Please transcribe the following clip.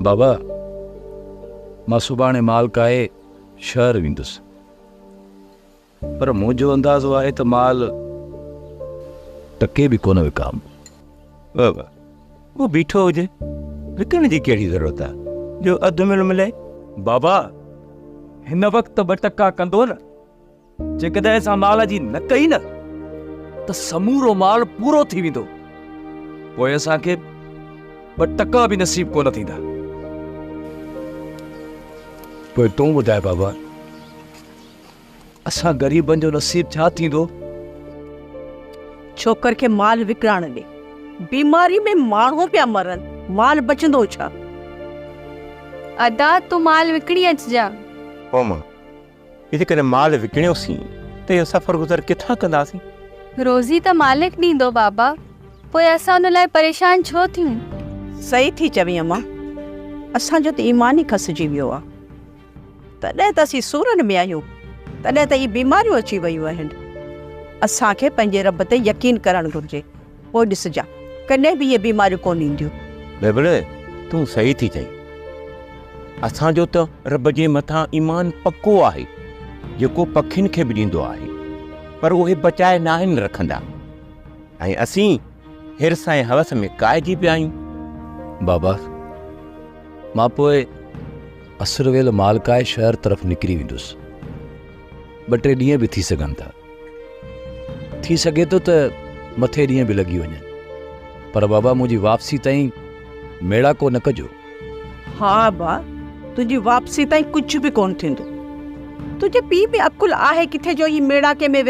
بابا مان سڀاڻي مال ڪاهي شهر ويندس پر منهنجو اندازو آهي ته مال ٽڪي به ڪونه وڪام. بابا اهو بيٺو هجي وڪڻ جي ڪهڙي ضرورت آهي جو اڌ مل ملي. بابا هن وقت ته ٻه ٽڪا ڪندو نه. جيڪڏهن اسان مال جي نه ڪئي نه ته سمورو مال پورو ٿي ويندو پوء اسان کي ٻه ٽڪا به نصيب ڪونه ٿيندا پوء تون ٻڌاء بابا اسان غريبن جو نصيب ڇا ٿيندو ڇوڪر کي مال وڪرائڻ ڏي بيماري ۾ ماڻهو پيا مرن مال بچندو ڇا ادا تون مال وڪڻي اچجا هو ماء جيڪڏهن مال وڪڻيوسين ته اهو سفر گذر ڪٿان ڪنداسين؟ روزي ته مالڪ ڏيندو بابا، پوء اسان ان لاء پريشان ڇو ٿيون؟ صحيح ٿي چوين اما، اسان جو ته ايمان ئي کسجي ويو آهي. تڏهن ته اسين سورن ۾ آهيون، تڏهن ته هي بيماريون اچي ويون آهن. اسان کي پنهنجي رب تي يقين ڪرڻ گهرجي. پوء ڏسجان، ڪڏهن به اهي بيماريون ڪونه اينديون. بيبڙي تون صحيح ٿي چئين. اسان جو ته رب جي مٿان ايمان پڪو آهي، جيڪو پکين کي به ڏيندو آهي، پر اهي بچائي ناهن رکندا ۽ اسين حرص ۽ حوس ۾ ڪاهجي پيا آهيون. بابا مان پوء عصر ويل مالڪائي شهر طرف نڪري ويندس. ٻه ٽي ڏينهن به ٿي سگهن ٿا. ٿي سگهي ٿو ته مٿي ڏينهن به لڳي وڃن پر بابا منهنجي واپسي تائين ميڙاڪو نه ڪجو. ها ابا تنهنجي واپسي تائين ڪجهه به ڪونه ٿيندو. تنهنجي پيء ۾ عقل آهي ڪٿي جو هي ميڙاڪي ۾ ويهي.